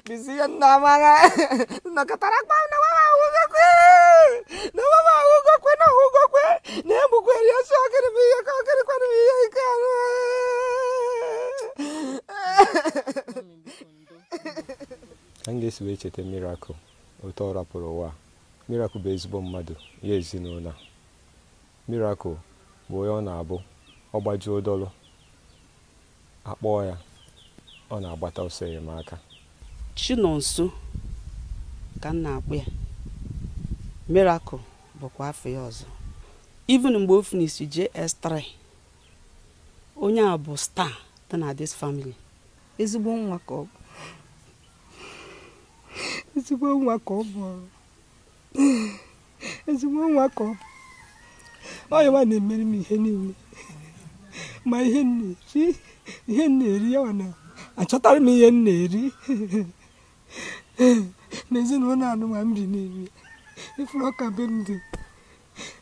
Bizi yan na mara. Nakatarak pa na mama hugo kwe. Na mama hugo kwe na hugo kwe. Ne mu kwe ya so kere bi ya ka kere kwa bi ya ka. Ka m ga-esi wee cheta Miracle otu ọ rapụrụ ụwa a. Miracle bụ ezigbo mmadụ ya ezinụlọ a. Miracle bụ onye ọ na-abụ ọ gbajuo dọlụ A kpọọ ya, ọ na-agbata ọsọ enyemaka. Chinonso ka m na-akpọ ya. Miracle bụkwa afa ya ọzọ. Even mgbe o finisiri JS3, onye a bụ star dị na this family. Ezigbo nwa ka ọ bụ. Ezigbo nwa ka ọ bụ. ezigbo nwa ka ọ bụ ọ ya nwa na-emere m ihe niile ma ihe m na-eri ihe m na-eri ya na-achọtara m ihe m na-eri n'ezinụlọ anụwa m bi n'ime ị fụrụ ka be m dị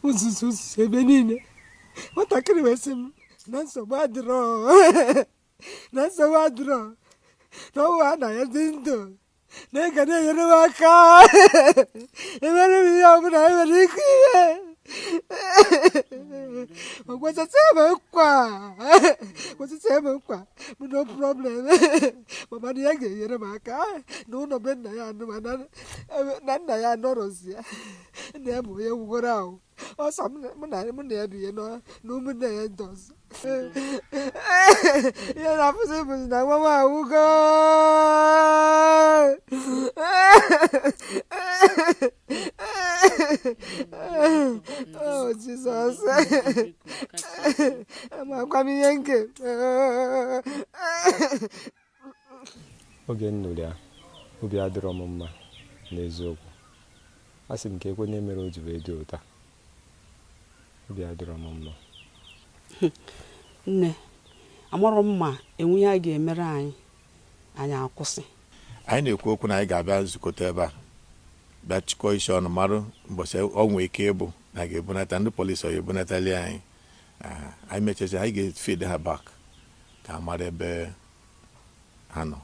uzuzu uzuzu ebe niile nwatakịrị wee sị m na nsogbu adịrọ na nsogbu adịrọ na ọ bụrụhaa na ya dị ndụ na ya ga na-enyere m aka emere m ihe ọbụla e nwere ike ihe Whatsoever kwa? Whatsoever kwa? No problem. Mama na ya ga-enyere m aka. N'ụnọ be nna ya anụwa. Na nna ya anọrọzi ya. Nna ya bụ onye nwụgoro anwụ. ọ sọ mụ na mụ na ya bi ya na ụmụnne ya ndị ọzọ ihe m na-afụzi bụzi na nwa m anwụgo oh Jesus amakwa m ihe nke Oge m nụrụ ya, obi adịrọ m mma n'eziokwu. Asị m kekwanụ ihe mere o ji wee dị otu a. Obi adịrọ m mma. Nne, amarọ m ma e nwe ihe a ga-emere anyị, anyị akwụsị. Anyị na-ekwu okwu na anyị ga-abịa nzukọta ebe a bịa chịkọọ isi ọnụ marụ mbọchị ọ nwee ike ịbụ na a ga-ebunata ndị polisi ọ ya-ebunatali anyị. Anyị mechazi anyị ga-feed ha back. ka a mara ebe ha nọ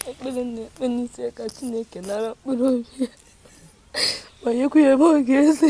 ekpere m na-ekpe n'isi ka Chineke nara mkpụrụ obi ya ma nyekwa ya ebe ọ ga-esi